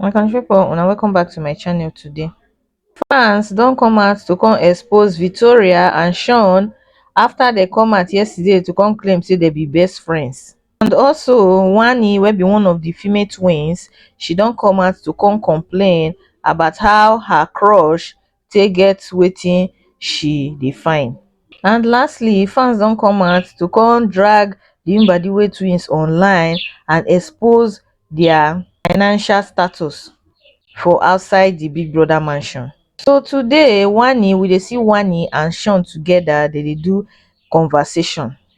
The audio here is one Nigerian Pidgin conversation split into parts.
my country people una welcome back to my channel today fans don come out to come expose victoria and sean after they come out yesterday to come claim say they be best friends and also wani will be one of the female twins she don't come out to come complain about how her crush take get wetin she dey find. And lastly, fans don come out to come drag the Mbadiwe twins online and expose their financial status for outside the Big Brother mansion. So today, Wanni, we dey see Wanni and Sean together, dem dey do conversation.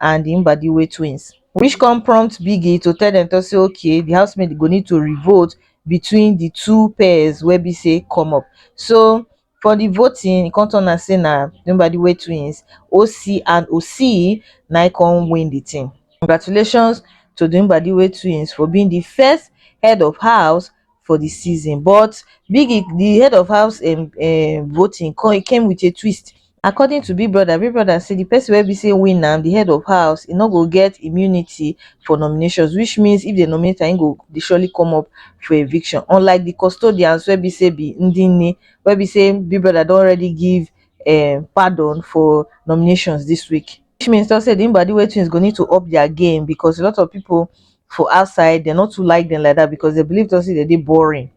and di Mbadiwe twins, which come prompt Biggie to tell dem talk say okay di housemates go need to re-vote between di two pairs wey be say come up. So for di voting, e come turn out say na di Mbadiwe twins, Osi and Osii, na im come win di thing. Congratulations to di Mbadiwe twins for being di first head of house for di season but biggie di head of house um um voting come came wit a twist according to big brother big brother say di pesin wey be say win am di head of house e no go get immunity for nominations which means if dem nominate am e go dey surely come up for eviction unlike di custodians wey be say be ndi nni wey be say big brother don already give um pardon for nominations dis week which means to say di mbadiwe twins go need to up dia game becos a lot of pipo for outside dem no too like dem like that because dem believe talk say dem dey boring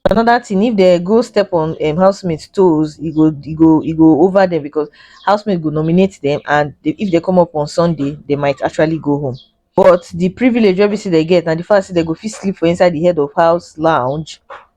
another thing if dem go step on um, housemates toes e go e go e go over them because housemates go nominate them and they, if they come up on sunday they might actually go home but the privilege wey be say they get na the fact say they go fit sleep for inside the head of house lounge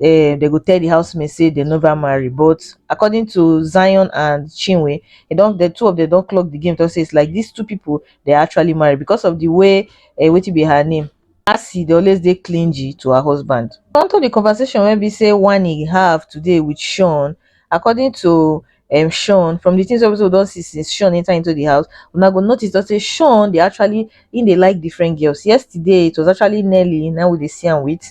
um dem go tell the housemates say dem never marry but according to zion and chinwe e don the two of them don clock the game talk say it's like these two people they are actually married because of the way uh, wetin be her name Asi dey always dey clingy to her husband. Onto the conversation wey be say Wani have today with Sean, according to um, Sean, from the things wey we don see since Sean enter into the house, una go notice that say Sean dey actually in dey like different girls. Yesterday it was actually Nelly, now we dey see am with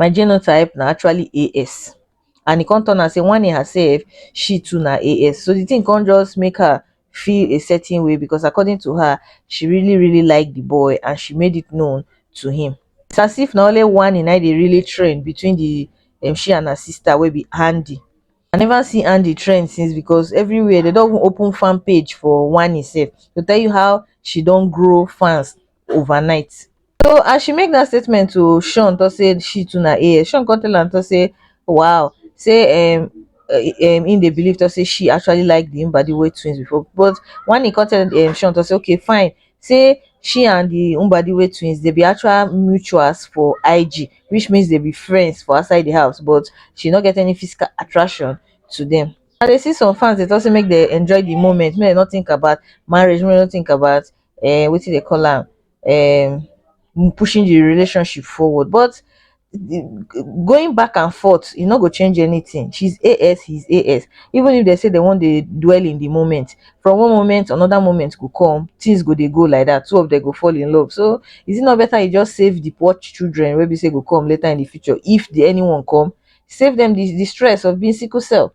my genotype na actually AS and e come turn out say one in herself she too na AS so the thing come just make her feel a certain way because according to her she really really like the boy and she made it known to him it's as if na only one in i dey really train between the um, she and her sister wey be Andy i never see andy trend since because everywhere dey don even open fan page for wanni sef to tell you how she don grow fans overnight so as she make that statement to sean talk say she too na as sean come tell am talk say wow say um um him dey believe talk say she actually like the mbadiwe twins before but wanni come tell um sean talk say okay fine say she and di mbadiwe twins dey be actual mutuals for ig which means dem be friends for outside di house but she no get any physical attraction to dem. I dey see some fans dey talk say make dem enjoy the moment, make dem no think about marriage, make dem no think about um wetin dey call am um pushing the relationship forward but going back and forth e no go change anything she's AS he's AS even if they say they want to dwell in the moment from one moment another moment go come things go they go like that two of them go fall in love so is it not better you just save the poor children where we say go come later in the future if the anyone come save them the, the stress of being sickle cell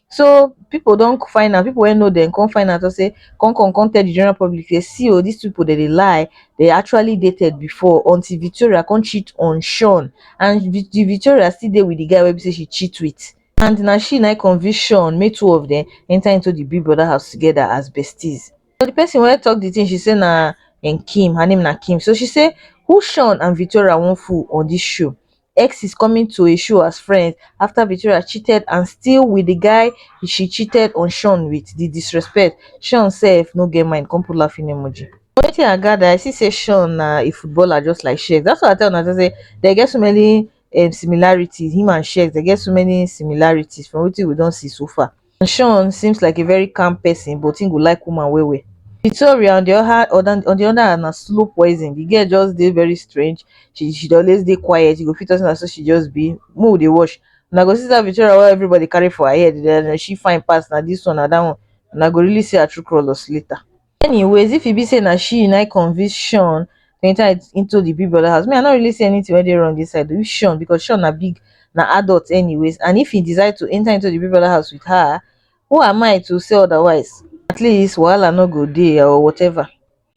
So people don find out, people wey know them come find out say come come come tell the general public say see oh these people they dey lie, they actually dated before until Victoria come cheat on Sean and Vic- the Victoria still dey with the guy wey be say she cheat with. And na she na convince Sean make two of them enter into the Big Brother house together as besties. So the person wey talk the thing she say na and Kim, her name na Kim. So she say who Sean and Victoria wan fool on this show? X is coming to a show as friends after Victoria cheated and still with the guy she cheated on Sean with the disrespect. Sean self no get mind, come put laughing emoji. Wetin I gather, I see say Sean na a footballer just like Shex. That's what I tell una say they get so many um, similarities. Him and Shex, they get so many similarities from what we don't see so far. and shawn seems like a very calm person but he go like woman well well victoria on the oha on the on the other hand na slow poison the girl just dey very strange she she dey always dey quiet you go fit talk say na so she just be make we dey watch una go see that victoria wey everybody carry for her head then she fine pass na this one na that one una go really see her true colours later anyways if e be say na she na convince sean to enter into the big brother house me i no really see anything wey dey wrong inside with sean because sean na big na adult anyways and if he decide to enter into the big brother house with her who am i to say otherwise at least wahala no go dey or whatever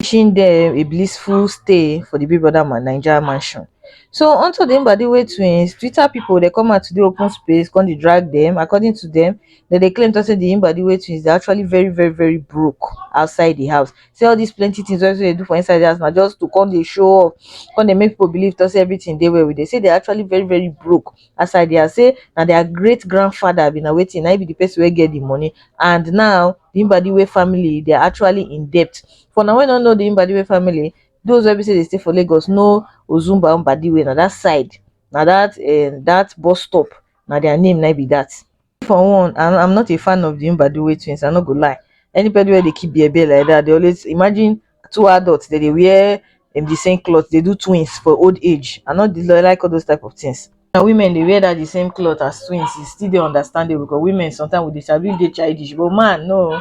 wishing them a blissful stay for the big brother man naija mansion so onto the mbadiwe twins twitter people dey come out today open space come dey drag them according to them dem dey claim talk say the Mbadiwe twins dey actually very very very broke outside the house say all these plenty things wey they do for inside the house na just to come dey show off come dey make people believe talk say everything dey well with them say they actually very very broke outside the house say na their great grandfather be na wetin na him be the person wey get the money and now the Mbadiwe family they are actually in debt for na wey no know the Mbadiwe family those wey be say dey stay for Lagos know Ozumba Mbadiwe na that side na that um that bus stop na their name na be that me for one i am not a fan of the mbadiwe twins i no go lie anybody wey dey keep bear bear like that dey always imagine two adults dem dey wear um the same cloth dey do twins for old age i no dey like all those type of things na women dey wear that the same cloth as twins e still dey understandable because women sometimes we dey sabi dey childish but man no